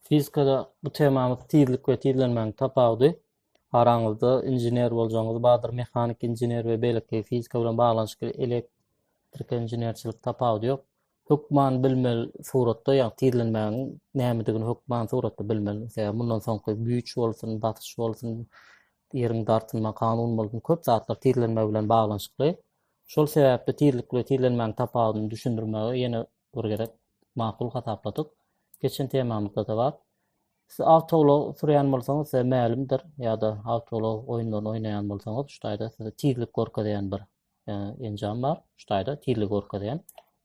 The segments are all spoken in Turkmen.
Fizikada bu temamyz tizlik we tizlenmäň tapawudy. Araňyzda inžener boljaňyz bardyr, mehanik inžener we beýleki fizika bilen baglanyşykly elektrik inženerçilik tapawudy ýok. Hökman bilmeli suratda, ýagny tizlenmäň nämedigini hökman suratda bilmeli. Sebäbi mundan soňky güýç bolsun, basyş bolsun, ýeriň dartylma kanuny bolsun, köp zatlar tizlenme bilen baglanyşykly. Şol sebäpli tizlik we tizlenmäniň tapawudyny düşündirmegi ýene bir gezek makul hasapladyk. Geçen temamyzda-da bar. Siz awtoulag sürýän bolsaňyz, size mälimdir, ýa-da awtoulag oýunlaryny oýnaýan bolsaňyz, şu taýda size tizlik görkezýän bir enjam bar, şu taýda tizligi görkezýän.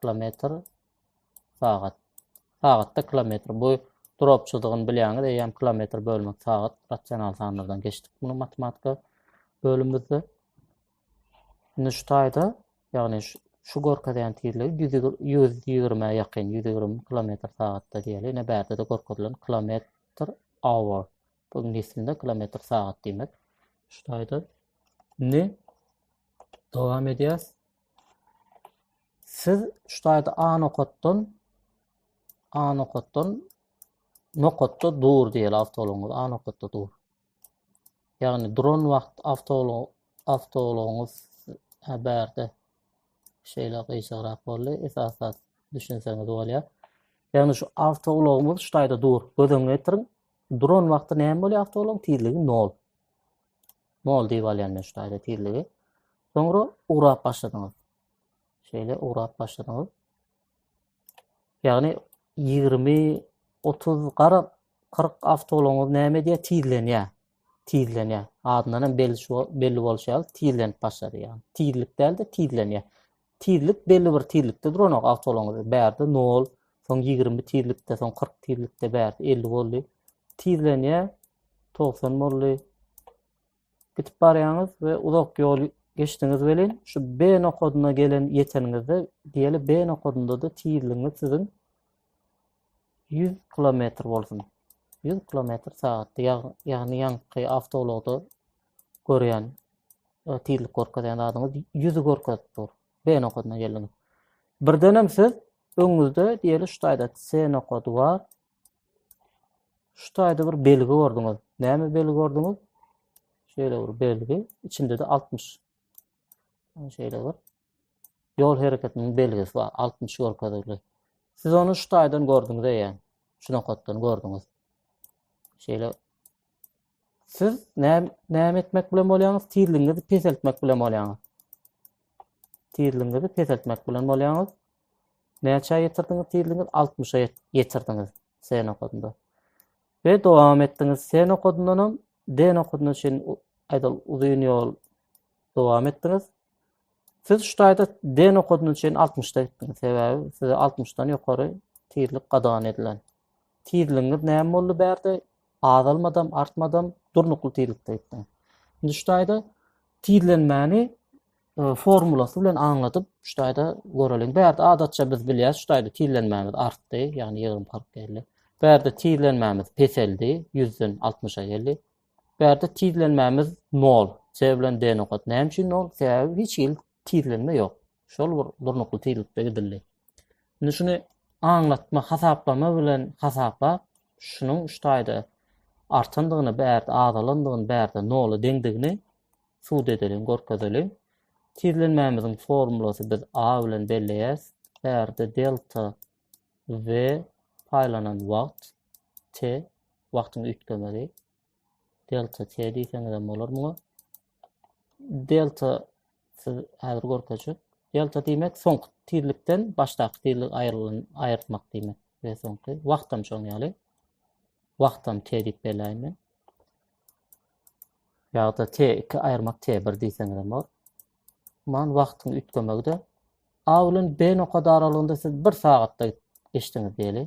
kilometr sagat. Sagatda kilometr. Bu dropçydygyny bilýäňiz. Eýýäm kilometr bölmek sagat rasional sanlardan geçdik bunu matematika bölümimizde. Indi şu taýda, ýagny şu görkezýän tizligi 120-ä ýakyn, 120 kilometr sagatda diýeli. Ine bärde de görkezilen kilometr hour. Bu ingilis dilinde kilometr sagat diýmek. Şu taýda. Indi dowam edýäs. Siz şu taýda A nokatdan A nokatdan nokatda dur diýeli awtoulagyňyz A nokatda dur. Ýagny duran wagt awtoulag awtoulagyňyz bärde şeýle gyýçagrak boldy. Esas zat düşünseňiz bolýar. Ýagny şu awtoulagyňyz şu taýda dur. Göz öňüne getiriň. Duran wagty näme bolýar awtoulagyň tizligi 0. Nol diýip alýan men şu taýda tizligi. Soňra ugrap başladyňyz. Şeýle ugrap başladyňyz. Ýagny 20 30 garap 40 awtoulagyňyz näme diýýär? Tizlenýär. Tizlenýär. Adyndan hem belli şu belli bolşy ýaly tizlenip başlady ýagny. Tizlik däl-de tizlenýär. tizlik belli bir tizlikde duranok awtoulagyňyz bärde 0 soň 20 tizlikde soň 40 tizlikde bärde 50 boldy tizlenýä 90 boldy gitip barýaňyz we uzak ýol geçdiňiz welin şu B nokadyna gelen ýeteniňizde diýeli B nokadynda da tizligiňiz siziň 100 kilometr bolsun 100 kilometr sagatda ýagny ýaňky awtoulagda görýän tizlik görkezýän zadyňyz ýüzi görkezip dur. B nokadyna geldiňiz. Birdenem siz öňüňizde diýeli şu taýda C nokady bar. Şu taýda bir belgi gördüňiz. Näme belgi gördüňiz? Şeýle bir belgi, içinde-de 60. Şeýle bir ýol hereketiniň belgisi bar, 60 görkezildi. Siz ony şu taýdan gördüňiz eýe. Şu nokatdan gördüňiz. Şeýle siz näme etmek bilen bolýaňyz? Tizligiňizi peseltmek bilen bolýaňyz. Tizligiňizi peseltmek bilen bolýaňyz. Näçe ýetirdiňiz tizligiňiz? 60-a ýetirdiňiz C nokadynda. We dowam etdiňiz C nokadyndan hem D nokadyna çenli aýdal uzyn ýol dowam etdiňiz. Siz şu taýda D nokadyna çenli 60-da gitdiňiz. Sebäbi size 60-dan ýokary tizlik gadagan edilen. Tizligiňiz näme boldy bärde? Azalmadam, artmadam, durnukly tizlikde gitdiň. Indi şu taýda tizlenmäni e, formulasy bilen aňladyp, şu taýda göreliň. Bärde adatça biz bilýäs, şu taýda tizlenmämiz artdy, ýagny ýygrym kyrk geldi. Bärde tizlenmämiz peseldi, 100-den 60-a geldi. Bärde tizlenmämiz 0. Sebäbi bilen D nokat. Näme üçin 0? Sebäbi hiç hili tizlenme ýok. Şol bir durnukly tizlikde gidildi. Indi şuny aňlatma, hasaplama bilen hasaplap, şunuň şu taýda artandygyny, bärde azalandygyny, bärde nola deňdigini sud edeliň, görkezeliň. Tizlenmämiziň formulasy biz A bilen belleýäs. Bärde delta V paýlanan wagt T wagtyň üýtgemegi delta t diýseňiz hem bolar muňa. Delta siz häzir görkezjek. Delta diýmek soňky tizlikden başdaky tizlik aýrylan aýyrtmak diýmek we soňky wagt hem şoň ýaly. Wagt hem t diýip belläýin men. Ýa-da t2 aýyrmak t1 diýseňiz hem bolar. Man wagtyň üýtgemegi de A bilen B nokady aralygynda siz 1 sagatda geçdiňiz diýeli.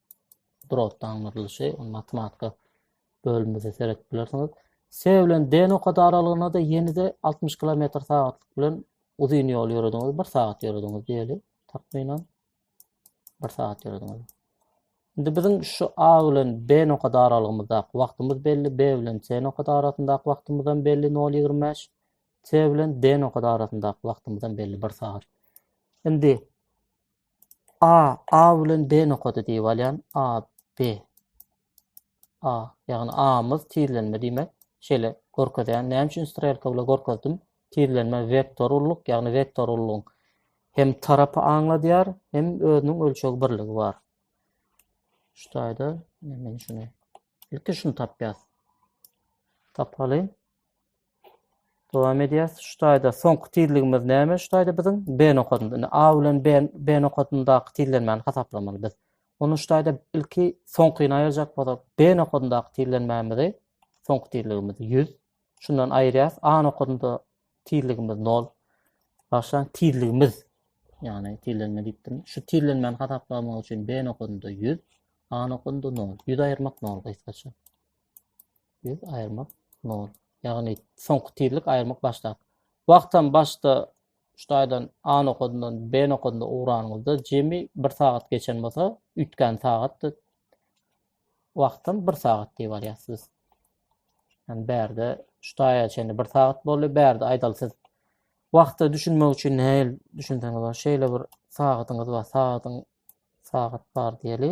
durardaňdyrlyşy, ony matematika bölümimizde seredip bilersiňiz. S bilen D nokada aralygyna da ýene-de 60 km sagatlyk bilen uzyn ýol ýörediňiz, 1 sagat ýörediňiz diýeli, takmynan 1 sagat ýörediňiz. Indi biziň şu A bilen B nokada aralygymyzdaky wagtymyz belli, B bilen C nokada arasyndaky wagtymyz hem belli 0.25, C bilen D nokada arasyndaky wagtymyz hem belli 1 sagat. Indi A, A bilen B nokady diýip alýan. A, B. A, ýagny A-myz tizlenme diýmek. Şeýle görkezýän. Näme üçin strelka bilen görkezdim? Tizlenme vektor ulluk, ýagny vektor ullugyň hem tarapy aňladýar, hem özüniň ölçeg birligi bar. Şu taýda men şuny ilki şuny tapýas. Tapalyň. Dowam edýäs. Şu taýda soňky tizligimiz näme? Şu taýda biziň B nokadynda. Indi A bilen B, B nokadyndaky tizlenmäni hasaplamaly biz. Onu şu taýda ilki soňkyny aýyrjak bolsak, B nokadyndaky tizlenmämizi, soňky tizligimiz 100. Şundan aýyrýas. A nokadynda tizligimiz 0. Başlan tizligimiz, ýagny tizlenme diýipdim. Şu tizlenmäni hasaplamak üçin B nokadynda 100, A nokadynda 0. 100 aýyrmak 0 gysgaça. Biz aýyrmak 0. Ýagny soňky tizlik aýyrmak başda. Wagtam başda şutaýdan A nokadyndan B nokadynda ugranyňyzda jemi 1 sagat geçen bolsa, üýtgän sagatdy. Wagtam 1 sagat diýip alýas siz. Yani bärde şutaýa çenli 1 sagat boldy. Bärde aýdal siz wagta düşünmek üçin näil düşünseňiz bar. Şeýle bir sagatyňyz bar. Sagatyň sagat bar diýeli.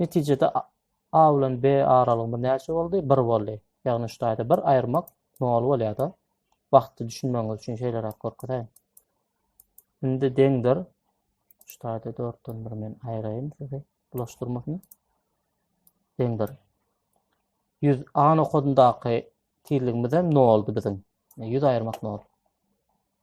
Netijede A bilen B aralygymyz näçe boldy? Bir boldy. Ýagny şu taýda bir aýyrmak nol bolýar-da. Wagtda düşünmegiňiz üçin şeýleräk görkezeýin. Indi deňdir. Şu taýda dörtden bir men aýyraýyn sizi bulaşdyrmasyn. Deňdir. 100 A nokodundaky tizligimiz hem noldy biziň. 100 aýyrmak nol.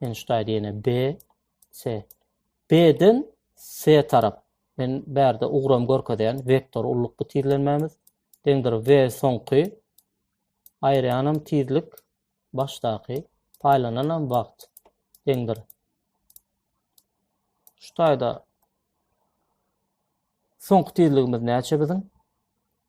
Men şu taýda ýene B, C. B-den C tarap. Men bärde ugram görkezýän vektor ullukly tizlenmämiz. Deňdir V soňky. Aýyrýanam tizlik başdaky. Paýlananam wagt. Deňdir. Şu taýda soňky tizligimiz näçe biziň?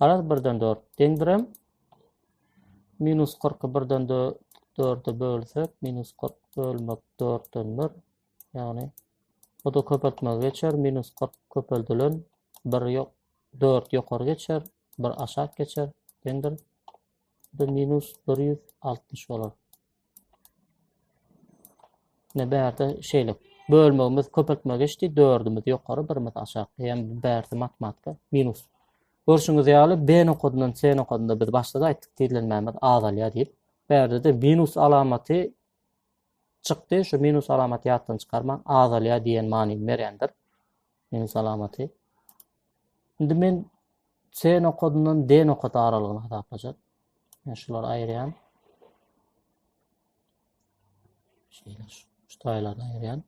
Garaz birden dört deňdirem. Minus 40-y birden dörde bölsek, minus 40 bölmek dörtden bir. Yani o da köpeltmege geçer. Minus 40 köpeldilen bir yok, dört yukarı geçer, bir aşak geçer. Deňdir. Bu minus 160 olur. Ne bärde şeýle bölmegimiz köpeltme geçdi. Dördümiz ýokary, birimiz aşak. Hem bärde matematika minus. Görşüňiz ýaly B nokadyndan C nokadynda biz başda da aýtdyk tizlenmämiz azalýar diýip. Bärde de minus alamaty çykdy. Şu minus alamaty ýatdan çykarmaň azalýar diýen manyny berýändir. Neň salamaty. Indi men C nokadyndan D nokady aralygyny hasaplajak. Men şulary aýyrýan. Şeýle şu, şu taýlary aýyrýan.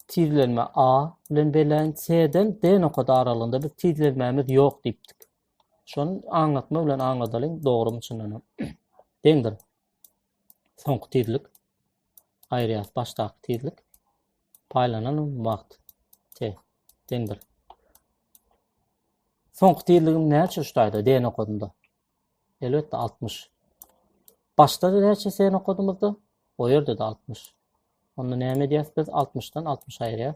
Tizlenme A bilen belän C-den D nokady aralygynda biz tizlenmämiz ýok diýipdik. Şony aňlatma bilen aňladalyň, dogry üçin deňdir. Soňky tizlik aýyrýas başdaky tizlik paýlanan wagt te deňdir. Soňky tizligim näçe şuýda den okadymda? Elbetde 60. Başda da näçe sen okadymyzda? O ýerde de 60. Onda näme edýäs biz? 60-dan 60 aýyrýas.